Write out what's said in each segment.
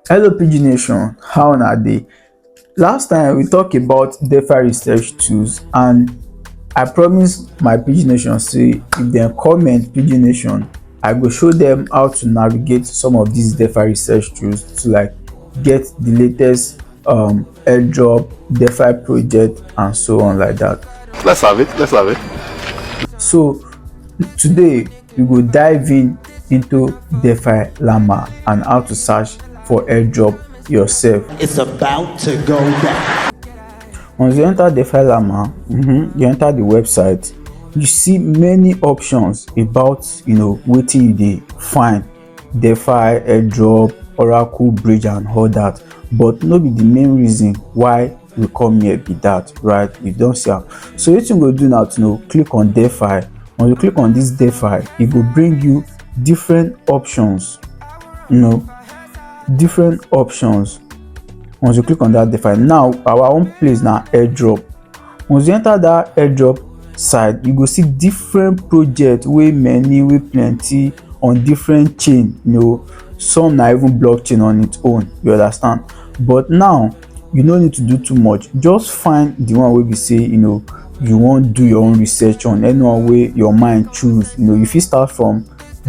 Hello PG Nation, how na dey? Last time we talk about DeFi research tools and I promise my PG Nation say if dem comment PG Nation, I go show them how to navigate some of these DeFi research tools to like get the latest um, airdrop, DeFi project and so on like that. Let's have it, let's have it. So today we go dive in into DeFi Llama and how to search for airdrop yourself. It's about to go down. Once you enter DeFi Llama, mm -hmm, you enter the website, you see many options about you know wetin you dey find DeFi, airdrop, Oracle, Bridge and all that but no be the main reason why we come here be that right we don't see am so what you go do now to know click on defi when you click on this defi it will bring you different options you know different options once you click on that defi now our own place now airdrop once you enter that airdrop side you go see different project way many way plenty on different chain you know some na even blockchain on its own you understand but now you no need to do too much just find the one wey be say you know you wan do your own research on anyone wey your mind choose you know you fit start from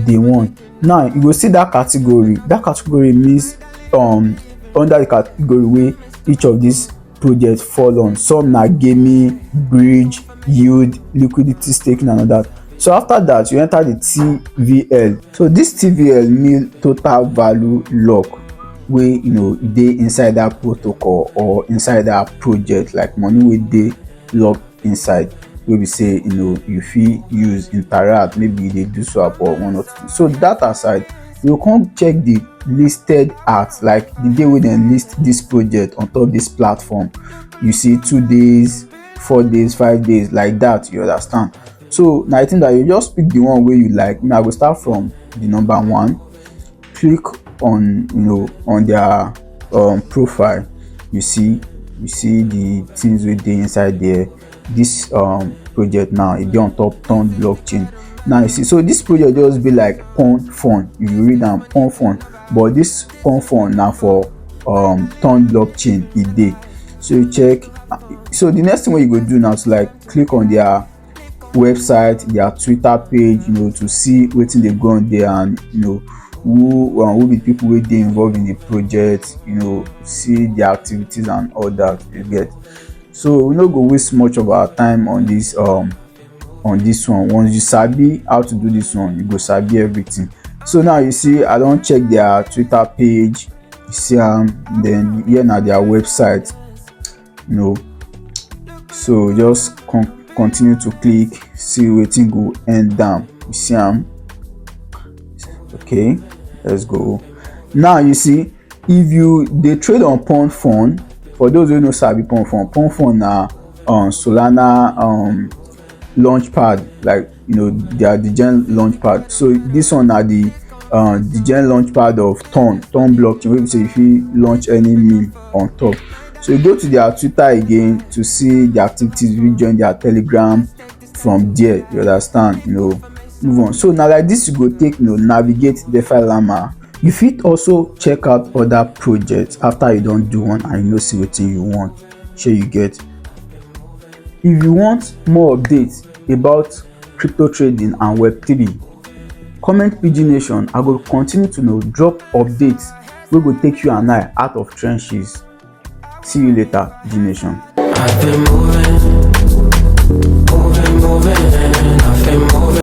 day one now you go see that category that category means um under the category wey each of these projects fall on some na gaming bridge yield liquidity staking and all that so after that you enter the tvl so this tvl mean total value lock wey you know dey inside that protocol or inside that project like money wey dey locked inside wey be say you know you fit use interact maybe you dey do swap or one or two so that aside you come check the listed at like the day wey dem list this project on top this platform you see two days four days five days like that you understand so now i think that you just pick the one where you like now i go start from the number one click on you know on their um, profile you see you see the things wey dey inside there this um, project now e dey on top ton blockchain now you see so this project just be like pon fund if you read am pon fund but this pon fund na for um, ton blockchain e dey so you check so the next thing wey you go do now is like click on their website their twitter page you know to see wetin dey go on there and you know who um, who be people wey dey involved in the project you know see their activities and all that you get so we no go waste much of our time on this um on this one once you sabi how to do this one you go sabi everything so now you see i don check their twitter page you see am um, then here na their website you know so just con continue to click see wetin go end down you see am okay let's go now you see if you dey trade on pond fund for those wey no sabi pond fund pond fund na um, solana um, launch pad like you know they are the gen launch pad so this one are the uh, the gen launch pad of ton ton blockchain wey be say you fit launch any meme on top so you go to their twitter again to see the activities you join their telegram from there you understand you know move on so na like this you go take you know navigate defi llama you fit also check out other projects after you don do one and you know see wetin you want shey you get if you want more updates about crypto trading and web3 comment pidgin nation i go continue to know drop updates wey go take you and i out of trenches see you later pidgin nation. I've been moving, moving, moving, I've been moving.